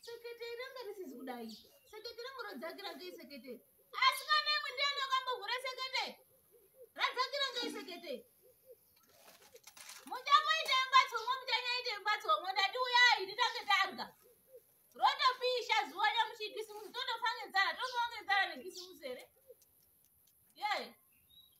seketeri ranga risizi kudai seketeri rangu rodzakira ngei seketeri asi kana imwe ndiana kwambovhura sekete radzakira ngei sekete muchamoita mbatso mwe muchanyaita mbatso mwe ndati uyai titange tarya rotopisha zuva nyamuchikisimusi totofa ngenzara tofa ngenzara nekisimusi here ye yeah.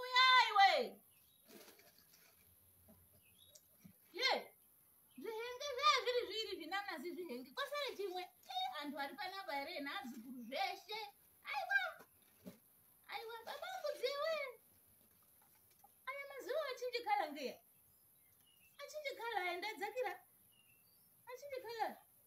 uyaiwe ye zvihenge zvee zviri zviri zvinanazi zvihenge kwasare chimwe antu ari panapa here nazukuru zveshe aiwa aiwa baba mudziwe aya mazuva achinje kala ngeya achinje kala aenda dzakira achinje kala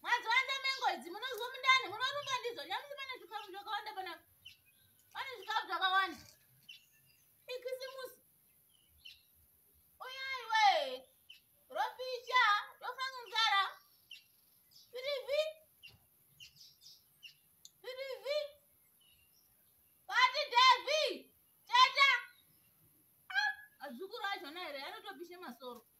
Mwadziwanza mengo idzi munozwa mundani munorumba ndidzo nyamusi pane zvikafu zvakawanda pana pane zvikafu zvakawanda ikisimusi uyai we ropisha rofanga nzara pirivi pirivi pati devi teta Ah, azukuru achona here anotopishe masoro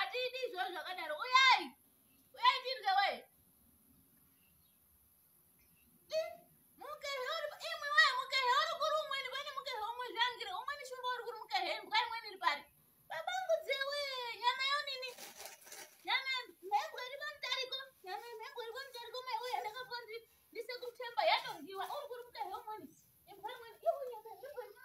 Atidi izvozvo zvakadaro. Uyai. Uyai tirye we. Mukehe uri imwe we mukehe uri kuri umweni pane mukehe umwe zvangire umweni shumba uri kuri mukehe mbwa imweni iri pari. Babangu dzewe nyama yo nini? Nyama mhembwe iri pamutariko. Nyama mhembwe iri pamutariko mai uya ndakaponzi ndise kutemba yatodyiwa uri kuri mukehe umweni. Imbwa imweni iyo nyama mhembwe iri